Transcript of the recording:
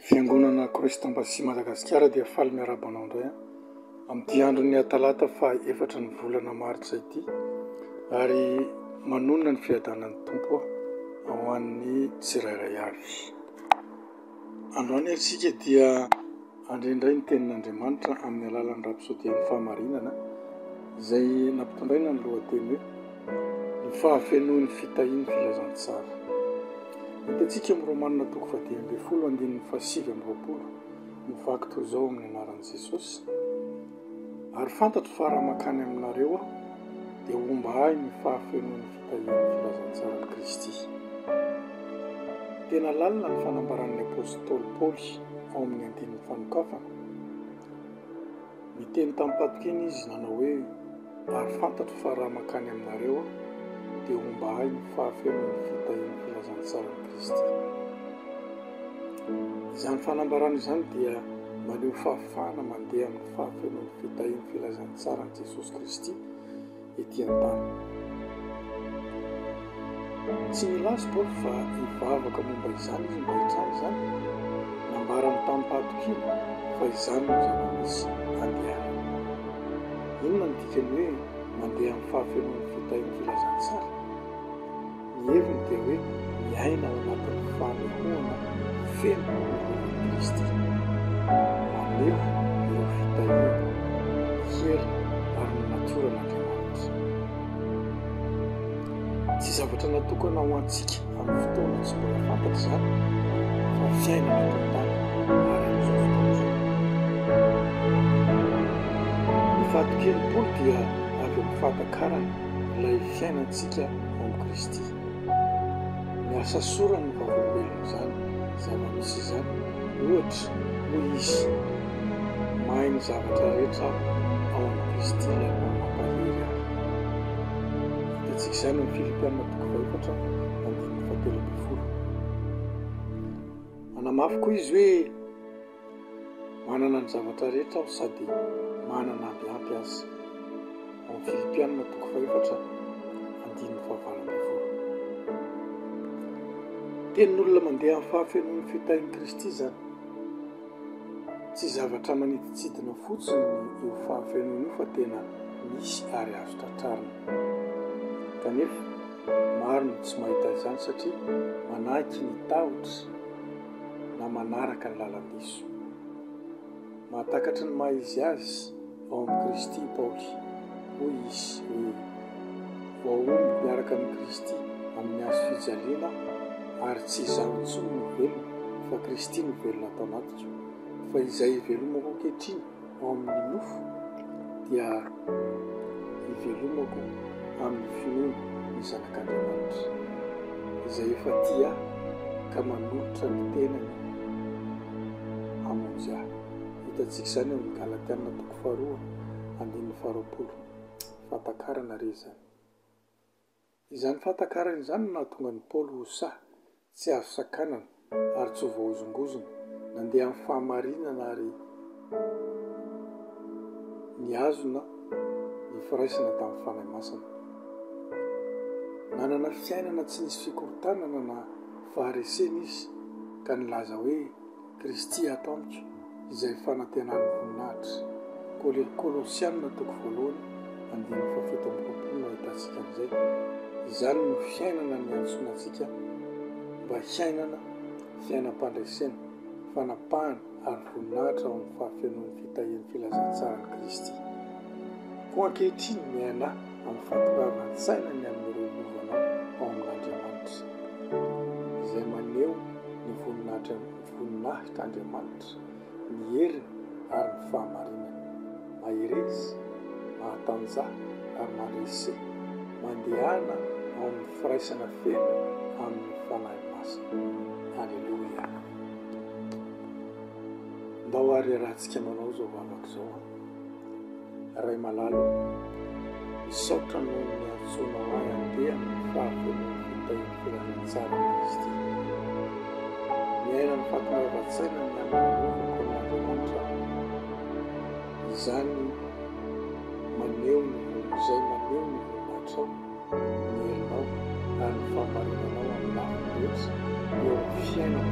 Fiangonana Kristam-bazaha Madagasikara dia faly miarahaba anao indray amin'ity andron'ny Atalata faha efatra ny volana martsa ity ary manonona ny fiadanan'ny Tompo ho an'ny tsirairay avy. Androany ary isika dia handre indray ny tenin'Andriamanitra amin'ny alalan'ny rapsodian'ny fahamarinana izay nampitondraina ny lohateny hoe. Ny fahafenoan'ny fitahian'ny filazantsara. Hitantsika amin'ny Romana toko fahadimy ambin'ny folo andininy fahasivy amby roapolo ny vaky toy izao amin'ny anaran'i Jesosy, Ary fantatro fa raha mankany aminareo aho, dia homba ahy ny fahafenoan'ny fitahian'ny filazantsaran'i Kristy. Tena lalina ny fanambaran'ny apostoly Paoly ao amin'ny andininy fanokafana. Niteny tamim-patokiana izy nanao hoe, Ary fantatro fa raha mankany aminareo aho, dia homba ahy ny fahafenoan'ny fitahian'ny filazantsaran'i Kristy. Izany fanambarana izany dia maneho fahafahana mandeha amin'ny fahafenoan'ny fitahian'ny filazantsaran'i Jesosy Kristy. ety an-tany. Tsy nilaza Paoly fa hivavaka momba izany izy mba hitranga izany. Nambarany tamim-pahatokiana fa izany no zava-misy handehanany. Inona no dikan'ny hoe mandeha amin'ny fahafenoan'ny fitahian'ny filazantsara? Ny heviny dia hoe miaina ao anatin'ny fanehoana feno an'i Kristy, maneho ireo fitahiana, ny hery ary ny natioran'Andriamanitra. Tsy zavatra natokana ho antsika amin'ny fotoana tsy mbola fantatra izany fa fiainana eto an-tany ary amin'izao fotoana izao. Ny fahatokenimpolo dia avy amin'ny fahatakarana ilay fiainantsika amin'i Kristy. Ny asa soran'ny vavolombelona izany zava-misy izany, ohatra, hoy izy, Mahay ny zavatra rehetra ao amin'i Kristy Ilay Mampahery ahy. Hitantsika izany amin'ny Filipiana toko fahefatra andininy fahatelo ambin'ny folo. Manamafy koa izy hoe. Manana ny zavatra rehetra aho sady manana avy ampy aza. Ao amin'ny Filipiana toko fahefatra andininy fahavalo ambin'ny folo. Tenin'olona mandeha amin'ny fahafenoan'ny fitahin'i Kristy izany. Tsy zavatra manidintsidina fotsiny io fahafenoana io fa tena misy ary azo tratrarina. Kanefa maro no tsy mahita izany satria manahy tsy ny tahotra. na manaraka ny lalam-piso. Mahatakatry ny maha izy azy ao amin'i Kristy i Paoly. Hoy izy hoe, Voaomby miaraka amin'i Kristy amin'ny hazo fijaliana, ary tsy izaho intsony no velona, fa Kristy no velona ato anatiko. Fa izay ivelomako ankehitriny, ao amin'ny nofo dia hivelomako amin'ny finoana ny Zanak'Andriamanitra, izay efa tia ahy ka manolotra ny tenany hamonjy ahy. Hitantsika izany ao amin'ny Galatiana toko faharoa andininy faharoapolo. Fahatakarana re izany! Izany fahatakarany izany no nahatonga an'i Paoly ho sahy, tsy azo sakanana, ary tsy ho voahozongozona. Nandeha amin'ny fahamarinana ary nihazona ny firaisana tamin'ny Fanahy Masina. Nanana fiainana tsy nisy fikorontanana na faharesena izy, ka nilaza hoe, Kristy ato amiko, izay fanantenan'ny voninahitra. Kol. Kolosiana toko voalohany andininy fahafito amby roapolo no ahitantsika an'izay. Izany no fiainana niantsoana antsika mba hiainana, fiainam-pandresena, fanapahana ary voninahitra ao amin'ny fahafenoan'ny fitahian'ny filazantsaran'i Kristy. Koa ankehitriny, miaina. amin'ny fahatongavan-tsaina ny amin'ny rohimovana ao amin'Andriamanitra, izay maneho ny voninahitr'Andriamanitra, ny heriny ary ny fahamarinany. Mahereza, mahatanjaha ary mandresy, mandehana ao amin'ny firaisana feno amin'ny Fanahy Masina. Aleloia! Ndao ary iarahantsika manao izao vavaka izao. Raimalalo ô! Misaotra noho ny niantsoanao ahy handeha amin'ny fahavonon'ny fitahian'ny Filanintsarin'i Kristy. Miaina ny fahatongavan-tsaina ny hanolovako an'Andriamanitra aho. Izany maneho ny voninahitr izay maneho ny voninahitrao, ny herinao ary ny fahamarinanao amin'ny lafiny rehetra eo amin'ny fiainako.